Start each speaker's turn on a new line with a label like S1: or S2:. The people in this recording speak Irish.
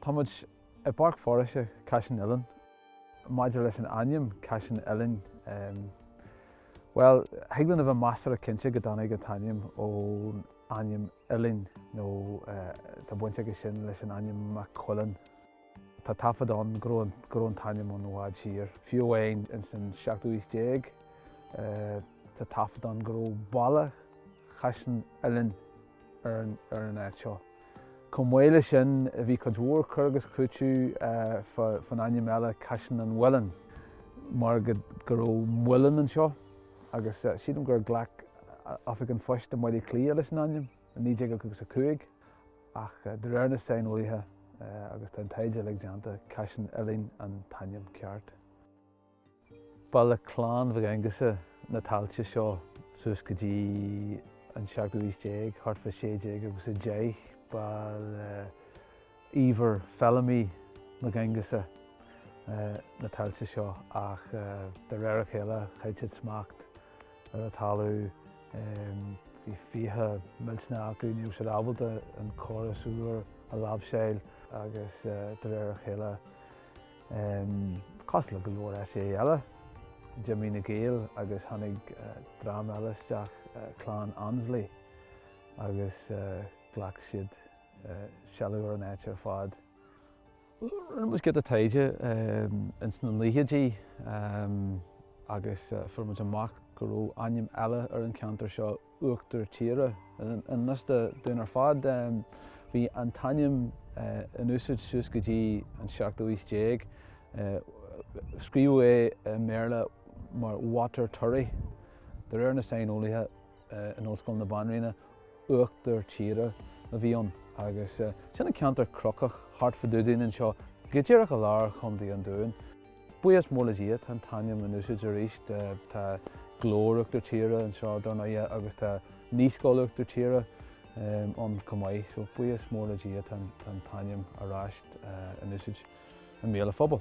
S1: Tá muid i bPáirc Foraoise Caisleán Uidhilín. Maidir leis an ainm, Caisleán Uidhilín, bhuel, thig linn a bheith measartha cinnte go dtáinig an t-ainm ón ainm Uidhilín nó tá baint aige sin leis an ainm McQuillan. Tá taifead ann go raibh an t-ainm ann i bhfad siar, fiú amháin ins an seachtú haois déag. Tá taifead ann go raibh Baile Chaisleán Uidhilín ar an áit seo. Chomh maith leis sin, bhí cuid mhór cur agus cúiteamh fán ainm eile Caisleán an Mhuilinn, mar go raibh muileann anseo, agus sílim gur ghlac Oifig an Phoist i mBaile Átha Cliath leis an ainm i 1955. Ach de réir na saineolaithe, agus tá an taighde uilig déanta, Caisleán Uidhilín an t-ainm ceart. Ba le clann Mhic Aongusa na tailte seo suas go dtí an seachtú haois déag, thart fá 1600 agus a 10. Ba le Íomhar Feilimí Mac Aongusa na tailte seo ach de réir a chéile chaill siad smacht. ar an talamh. Bhí fiacha millteanacha acu, ní raibh siad ábalta an córas úr a láimhseáil agus de réir a chéile, cosúil le go leor áiteacha eile, d'imigh na Gaeil agus tháinig dream eile isteach, clann Annesley, agus ghlac siad seilbh ar an áit ar fad. Rinne muid giota taighde ins na naochaidí agus fuair muid amach go raibh ainm eile ar an cheantar seo, Uachtar Tíre. I ngan fhios dúinn ar fad, bhí an t-ainm in úsaid suas go dtí an seachtú haois déag. Scríobhadh é i mBéarla mar Watertirry. De réir na saineolaithe, in Ollscoil na Banríona, Uachtar Tíre, a bhí ann agus sin an ceantar cnocach thart fá dtaobh dínn anseo, go díreach i lár Chontae an Dúin. Buíochas mór le Dia tá an t-ainm in úsáid arís, tá Glór Uachtar Tíre anseo dar ndóighe agus tá Naíscoil Uachtar Tíre ann chomh maith so buíochas mór le Dia tá an t-ainm ar ais in úsáid i mbéal an phobail.